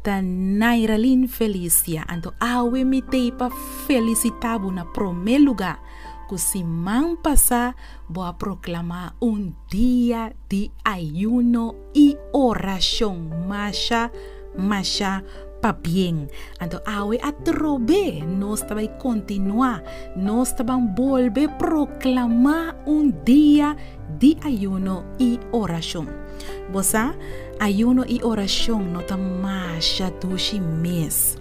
Ta Nairalyn Felicia anto awe mi tei pa felisita bo na prome luga ku siman pasa bo a proklama un dia di ayuno i orashon masha masha pa bien anto awe atrobe nos ta bai kontinua nos ta ban bolbe proklama un dia di ayuno i orashon. Bo sa, ayuno i orashon no ta masha dushi mes.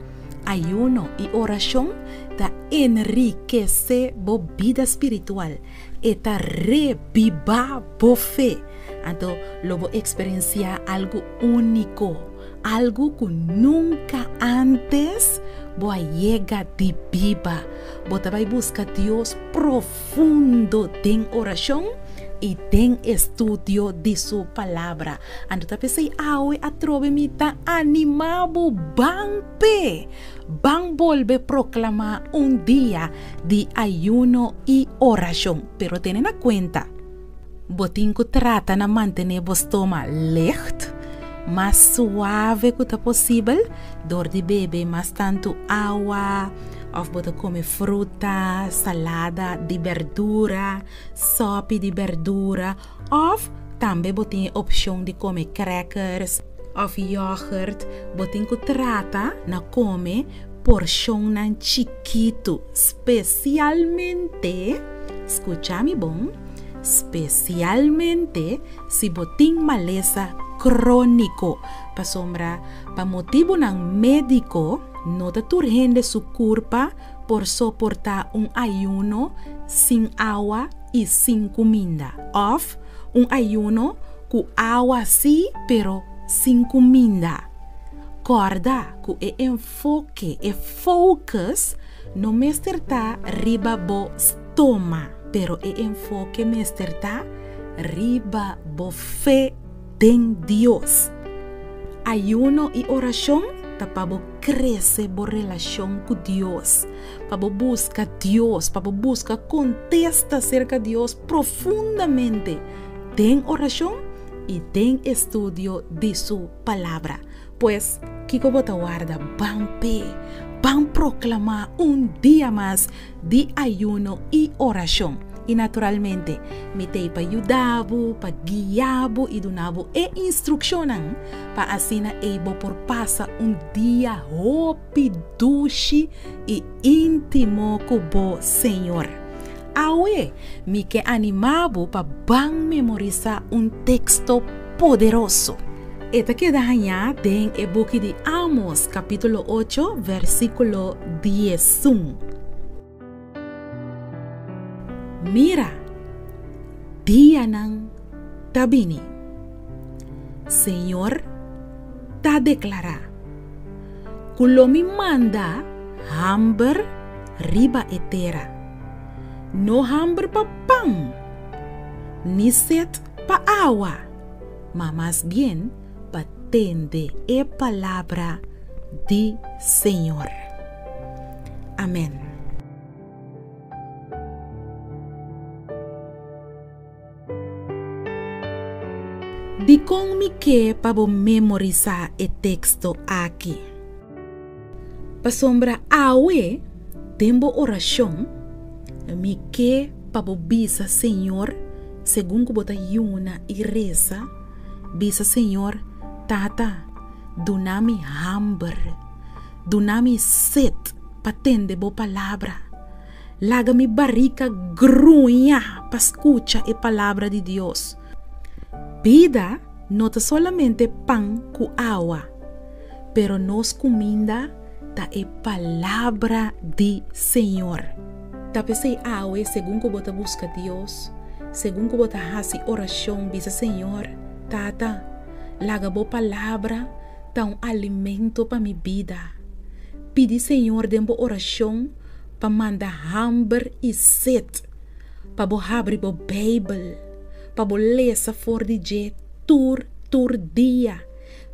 Ayuno i orashon ta enrikesé bo bida spiritual, e ta rebibá bo fe. Anto lo bo eksperensiá algu úniko, algu ku nunka ántes bo a yega di biba. Bo ta bai buska Dios profundo. fundo den oracion y den estudio di su Palabra. Anto ta pesey awe atrobe mi ta anima bo ban pe, ban bolbe proclama un dia di ayuno y oracion. Pero tene na cuenta. Bo tin ku trata na mantené bo stoma lègt, mas suave ku ta posibel, dor di bebe mas tantu awa òf bo ta kome fruta, salada di bèrdura, sòpi di bèrdura òf tambe bo tin e opshon di kome krèkers òf yògùrt. Bo tin ku trata na kome porshonnan chikitu. Spesialmente, skucha mi bon, spesialmente si bo tin malesa króniko, pasobra pa motibunan médiko no ta tur hende su kurpa por soportá un ayuno sin awa i sin kuminda, òf un ayuno ku awa sí pero sin kuminda. Kòrda ku e. Foke, E focus no mester ta riba bo stoma, pero e enfoke mester ta riba bo fe den Dios. Ayuno i oracion ta pa bo crece bo relacion cu Dios, pa bo busca Dios, pa bo busca contesta cerca Dios profundamente den oracion i den estudio di su Palabra. Pues, kiko bo ta warda? Ban p'e, ban proklamá un dia mas di ayuno i orashon. I naturalmente, mi ta ei pa yuda bo, pa guia bo i duna bo e instrukshonnan pa asina ei bo por pasa un dia hopi. pi dushi i intimo ku bo, Señor. Awe mi ke animá bo pa ban memorisá un teksto poderoso. E ta keda hañá den e buki di Amos, kapítulo ocho, vèrsikulo diezun. Mira, dianan ta bini, Señor ta declará, cu lo mi manda hamber riba e tera, no hamber pa pan, ni set pa awa, ma mas bien pa tende e palabra di Señor. Amen. Dikon mi ke pa bo memorisá e teksto aki? Pasobra awe, den bo orashon, mi ke pa bo bisa Señor segun ku bo ta yuna i resa Bisa Señor, Tata, duna mi hamber, duna mi set pa tende bo palabra. Laga mi barika gruña pa scucha e palabra di Dios. Bida no ta solamente pan cu awa, pero nos cuminda ta e palabra di Señor. Ta p'esei awe, segun ku bo ta buska Dios, segun ku bo ta hasi orashon, bisa Señor, Tata, laga bo palabra ta un alimento pa mi bida. Pidi Señor den bo orashon pa manda hamber i set pa bo habri bo Beibel, pa bo lesa for di dje tur tur dia.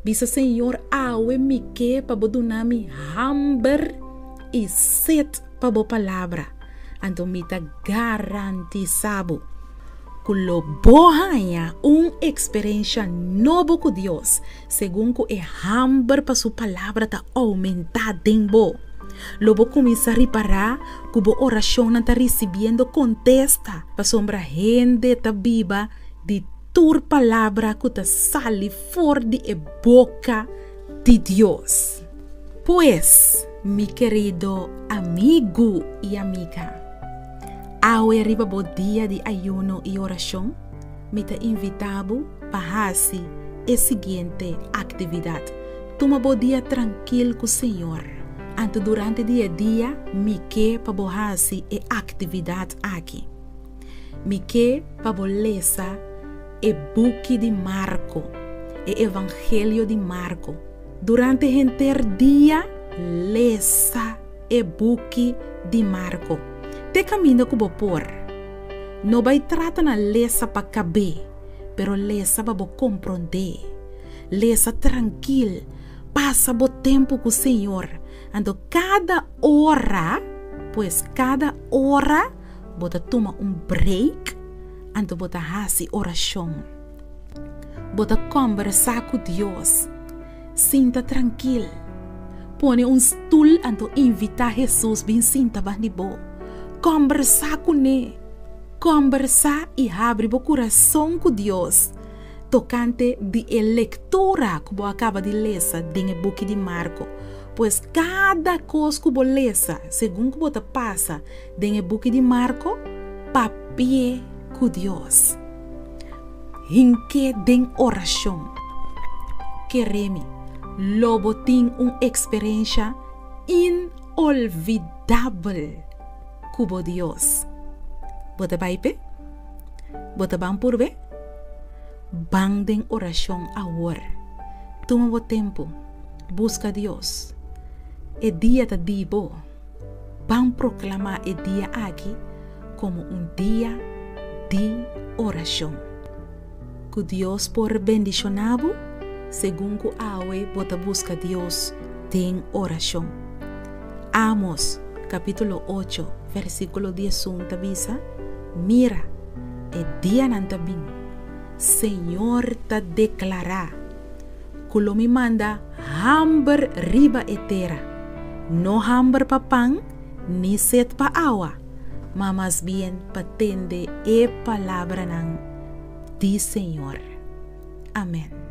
Bisa, Señor, awe mi ke pa Bo duna mi hamber i set pa Bo palabra, anto mi ta garantisá Bo ku lo Bo haña un eksperensha nobo ku Dios, segun ku e hamber pa Su palabra ta oumentá den bo. Lo bo kuminsá ripará ku bo orashonnan ta risibiendo kontesta, pasobra hende ta biba di. tur palabra ku ta sali for di e boka di Dios. Pues, mi kerido amigu i amiga, awe riba bo dia di ayuno i orashon, mi ta invitá bo pa hasi e siguiente aktividat, Tuma bo dia trankil ku Señor. Anto, durante di e dia, mi ke pa bo hasi e aktividat aki. Mi ke pa bo lesa e buki di Marko, e Evangelio di Marko. Durante henter dia lesa e buki di Marko. Te kaminda ku bo por. No bai trata na lesa pa kab'é, pero lesa pa bo komprondé. Lesa trankil, pasa bo tempu ku Señor. Anto kada ora, pues kada ora. bo ta tuma un break anto bo ta hasi orashon. Bo ta kombersá ku Dios. Sinta trankil. Pone un stul anto invitá Hesus bin sinta ban di bo. Kombersá kuné. Kombersá i habri bo kurason ku Dios tokante di e lektura ku bo a kaba di lesa den e buki di Marko. Pues kada kos ku bo lesa segun ku bo ta pasa, Den e buki di Marko, Papia ku Dios. Hink'é den orashon. Keremi, lo bo tin un eksperensha inolvidabel ku bo Dios. Bo ta bai p'e? Bo ta ban purbe? Ban den orashon awor. Tuma bo tempu. Buska Dios. E dia ta di bo. Ban proclama e dia aki como un dia di oracion. Cu Dios por bendiciona bo segun cu awe bo ta busca Dios den oracion. Amos capitulo ocho versiculo diesun ta bisa, Mira, e dianan ta bin, Señor ta declara, ku lo mi manda hamber riba e tera, no hamber pa pan, ni set pa awa, ma mas bien pa tende e palabranan di Señor. Amen.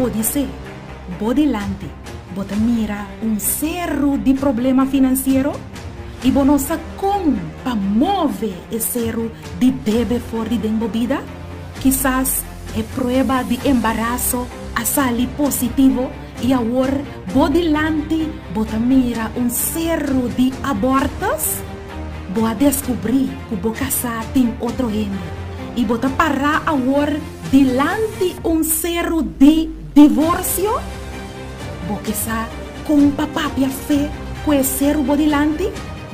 Podisé bo dilanti bo ta mira un seru di problema finansiero i bo no sa kon pa move e seru di debe for di den bo bida? Kisas e prueba di embaraso a sali positivo i awor bo dilanti bo ta mira un seru di abòrtus. Bo a deskubrí ku bo kasá tin otro hende i bo ta pará awor dilanti un seru di divorsio. Bo ke sa kon pa papia fe ku e seru bo dilanti.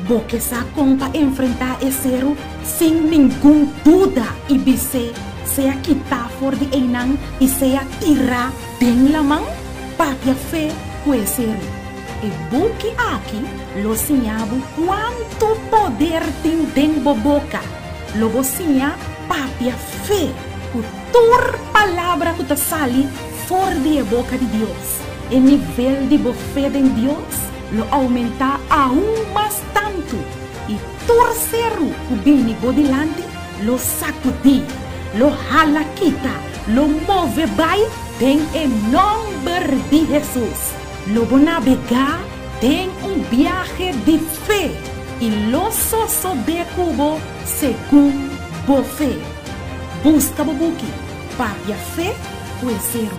Bo ke sa kon pa enfrentá e seru? Sin ningun duda i bis'é, Sea kitá for di einan i sea tirá den laman. Papia fe ku e seru. E buki aki lo siña bo kuantu poder tin den bo boka. Lo bo siña papia fe ku tur palabra ku ta sali for di e boka di Dios. E nivel di bo fe den Dios lo oumentá aún mas tantu, i tur seru ku bini bo dilanti lo sakudí, lo hala kita, lo move bai den e nòmber di Hesus. Lo bo nabegá den un biahe di fe i lo sosodé ku bo segun bo fe. Buska bo buki Papia Fe ku e seru.